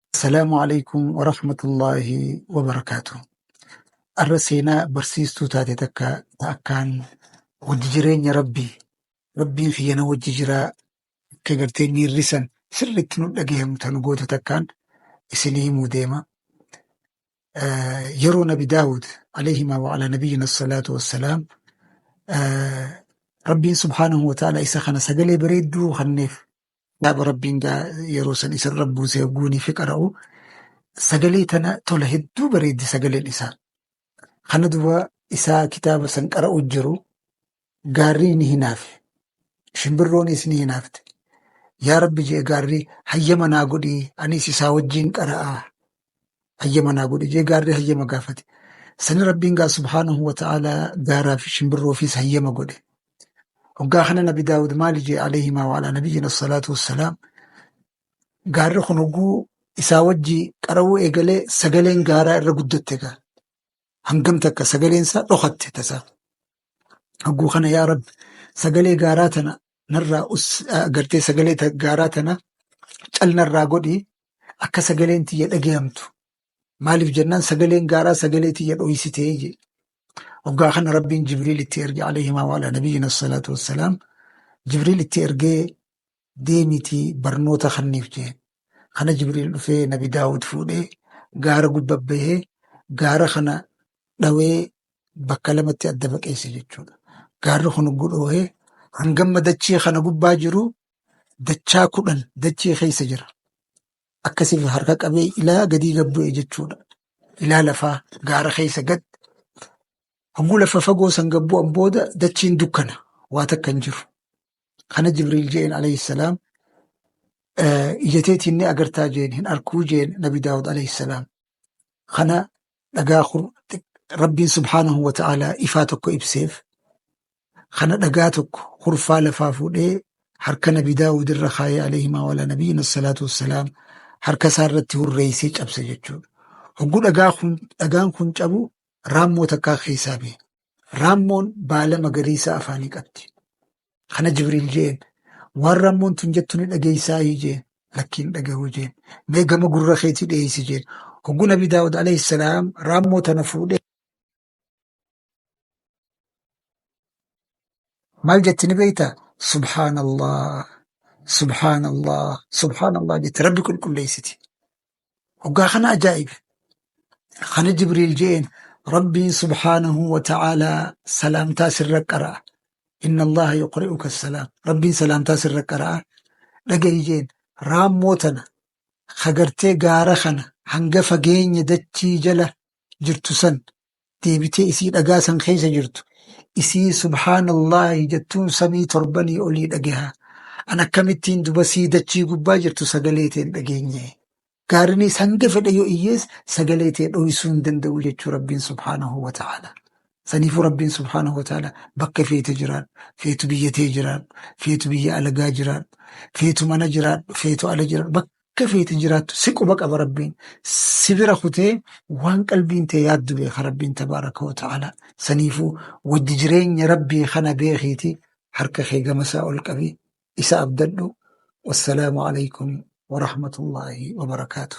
Assalaamu alaikum wa rahmatullaahi wa barakaatu. Arra seenaa barsiistuu taate takka ta akkaan wajji jireenya rabbii rabbiin kiyya na wajji jiraa akka gartee miirri san sirriitti nu dhagahamu tan gootu takkaan isinii himuu deema. Eh, Yeroo nabi Daawud alayhima wa ala nabiyyina salaatu wassalaam eh, rabbiin subhaanahu wa ta'ala isa kana sagalee bareedduu kanneef Kitaaba Rabbiin gaa yeroo san isarra buusee guunii fi qara'u sagalee tana tola hedduu bareeddi sagaleen isaa. Kana duba isaa kitaaba san qara'u jiru gaarrii ni hinaafe. Shimbirroonis ni hinaafte. Yaa Rabbi je'e gaarri hayyama naa godhii anis isaa wajjiin qara'aa hayyama naa godhi jee gaarri hayyama gaafate. Sani Rabbiin gaa subhaanahu wa ta'aalaa gaaraa fi shimbirroofiis hayyama godhe. Hoggaa kana Nabi Daawud maali jee alayhimaa wa alaa nabiyyina salaatu wassalaam gaarri kun hogguu isaa wajji qara'uu eegalee sagaleen gaaraa irra guddatte gaa. Hangam takka sagaleen isaa dhokatte tasaa. Hogguu kana yaa Rabbi sagalee gaaraa tana narraa us- ah, gartee sagalee ta- gaaraa tana cal narraa godhi akka sagaleen tiyya dhagayamtu maaliif jennaan sagaleen gaaraa sagalee tiyya dhoysitee jee hoggaa kana rabbiin jibriil itti erge alayhimaa waala nabiyyina salaatu wassalaam jibriil itti ergee deemitii barnoota kanniif jeen kana jibriil dhufee nabi daawud fuudhee gaara gubba bahee gaara kana dhawee bakka lamatti adda baqeesse jechuudha gaarri kun guddoohee hangamma dachii kana gubbaa jiru dachaa kudhan dachee keessa jira. Akkasiif harka qabee ilaa gadii gad bu'e jechuudha. Ilaa lafaa gaara keessa gad hogguu lafa fagoo san gad bu'an booda dachiin dukkana waa takka hin jiru. Kana Jibriil jeen alayhi salaam eh, ija teetiin ni agartaa jeen hin arkuu jeen Nabi Daawud alayhi salaam. kana dhagaa kun rabbiin subhaanahu wa ta'aalaa ifaa tokko ibseef kana dhagaa tokko hurfaa lafaa fuudhee harka nabi daawud irra kaayee alayhimaa walaa nabiyyiin assalaatu wassalaam harka isaa irratti hurreeysee cabse jechuudha hogguu dhagaa kun dhagaan kun cabu raammoo takkaa keessaa ba'e raammoon baala magariisaa afaanii qabdi Kana Jibriil jeen waan rammoon tun jettu ni dhageeysaayii jeen lakkiin dhagahuu jeen mee gama gurra keetii dheeysi jeen hogguu nabi daawud alayhi salaam raammoo tana fuudhee maal jetti ni beeyta subhaanallah subhaanallah subhaanallah jetti rabbi qulqulleeysiti Hoggaa kana ajaa'ibe. Kana Jibriil je'een Rabbiin subhaanahu wa ta'aalaa salaamtaa sirra qara'a. Inna Allaha yuqri'uka salaam. Rabbiin salaamtaa sirra qara'a. Dhaga'i je'een raammoo tana hagartee gaara kana hanga fageenya dachii jala jirtu san deebitee isii dhagaa san keessa jirtu isii subhaanallaahi jettuun samii torbanii olii dhageha an akkamittiin duba sii dachii gubbaa jirtu sagalee tee hin dhageenye gaarinis hanga fedhe yoo iyyees sagalee tee dhoysuu hin danda'u jechuu rabbiin subhaanahu wa ta'aala saniifuu rabbiin subhaanahu wa ta'aala bakka feete jiraadhu feetu biyya tee jiraadhu feetu biyya alagaa jiraadhu feetu mana jiraadhu feetu ala jiraadhu akka feete jiraattu si quba qaba rabbiin si bira kutee waan qalbiin tee yaaddu beeka rabbiin tabaaraka wa ta'ala saniifuu wajji jireenya rabbii kana beekiiti harka kee gamasaa ol qabi isa abdadhu wassalaamu alaykum warahmatullaahi wabarakaatu